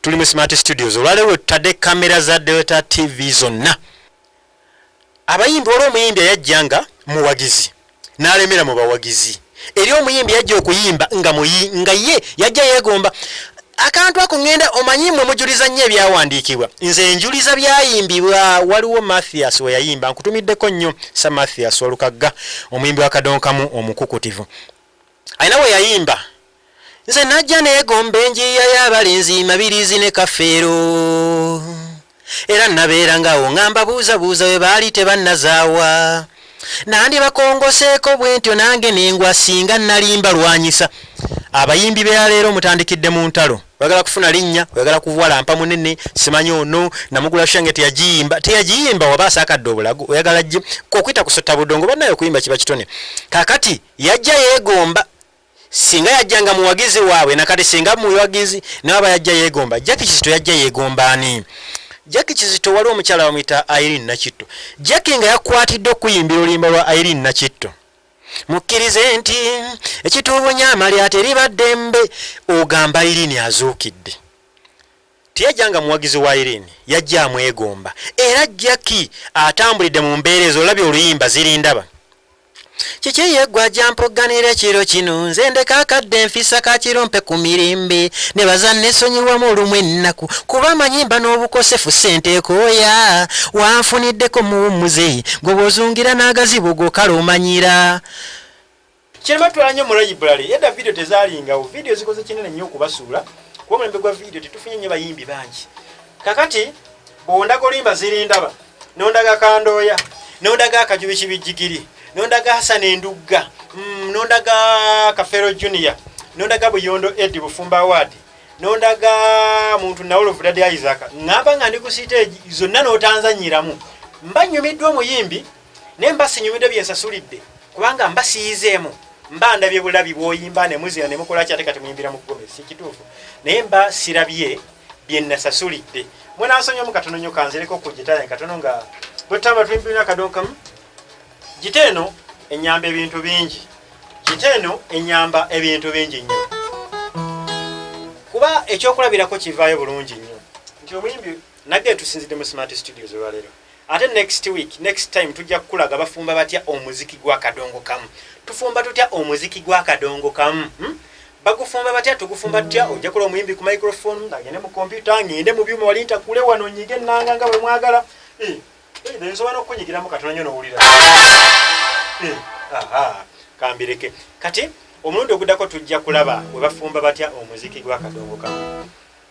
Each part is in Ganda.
tuli mu smart studios olwaleero tutadde kamera za delta tv zonna abayimbi waliwo omuyimbi eyajja nga muwagizi n'alemera mu bawagizi eri omuyimbi yajja okuyimba nga muyi nga ye yajja yeegomba akantu ako ŋŋenda omanyi mwe mujuliza nnyo ebyawandiikibwa nze njuliza byayimbibwa waliwo mathias we yayimba nkutumiddeko nnyo sa mathias walukagga omuyimbi wa kadonkamu omukukutivu Alina we yayimba Nze najja neegomba enjiiya y'abalenzi Mabiriizi ne Kafeero Era nnabeeranga awo nga mbabuuzabuuza we baali tebannazaawa Nandibakongoseeko bwentyo nange ne ngwa ssinga nnali mbalwanyisa Abayimbi b'eya leero mutandikidde mu ntalo oyagala kufuna linnya oyagala kuwala mpa munene simanyi ono namugula shange teyagiyimba teyagiyimba waba asakadde obulago oyagala gye okuyita kusota budongo banaye okuyimba kiba kitone kakati Yajja yegomba singa yajja nga muwagizi waabwe nakati singa muwagizi nawaba yajja yegomba jaki kizito yajja yegomba ani jaki kizito waliwo omukyala bamuyita irene nakitto jaki nga yakwatidde okuyimbira oluyimba lwa irene nakitto mukkirize nti ekituubunya amalya teriba ddembe ogamba irene azuukidde teyajja nga muwagizi wa irene yajja amwegomba era jaki atambulidde mu mbeera ezo olabye oluyimba zirindaba Kiki eyeggwa gyampogganira ekiro kino nze ndeka akadde nfisa ka kirompe ku mirimbe ne baza nesonyiwamu olumu ennaku kuba amanyi mba n'obukosefu ssente ekooya wanfuniddeko muwummuze gwe bwozungira n'agazibu gokala omanyira kirema twala nnyo mu layiburale edda vidiyo tezalingawo vidiyo zikoze kinene nnyo okubasuula kuba omulembe gwa vidiyo tetufunye nnyo bayimbi bangi kakati bwondaga olimba zirindaba nondaga kandooya nondaga akajubi kibijjigiri nondaga hasana endugga mm, nondaga kafero junior nondaga buyondo edi bufumba award nondaga muntu nawoluvudadi isaka ngamba nga ndi ku siteegi zonna notanzanyiramu mba nyumiddwa omuyimbi naye mba sinyumidde bye nsasulidde kubanga mba siyizeemu mba ndabye bulabi bwoyimba ne muzina ne mukola ki ate kati muyimbira mu kugombe si kituufu naye mba sirabye bye nasasulidde mwenansonyamu katono nyo kanzireko ku gita yange katono nga bwetutamba tuyimbirina akadonkamu gita eno enyamba ebintu bingi gita eno enyamba ebintu bingi nnyo kuba ekyokulabirako kivaayo bulungi nnyo nti omuyimbi nage tusinzidde mu smart studios olwaleero Ate next week next time tujja kukulaga bafumba batya omuziki gwa kadongo kamu tufumba tutya omuziki gwa kadongo kamu hmm? bagufumba batya tugufumba tutya ojja kula omuyimbi ku microphone agende mu kompyuta ngende mu byuma wali ntakule wano nyige ennanga nga bwe mwagala eh, eh, nsobola n'okukunyigiramu katono nyo n'owulira eh, kambireke kati omulundi oguddako tujja kulaba we bafumba batya omuziki gwa kadongo kamu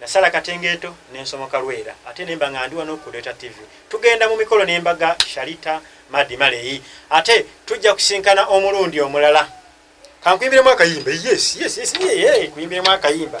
Nasala Katengeeto ne nsomoka Lwera ate ne mba nga ndi wano ku Lweta TV. Tugenda mu mikolo n'embaga Sharita Madi Maleyi ate tujja kusinkana omulundi omulala. Kankuyimbiremu akayimba. Yes, yes, yes, yeah, yeah. Kuyimbiremu akayimba.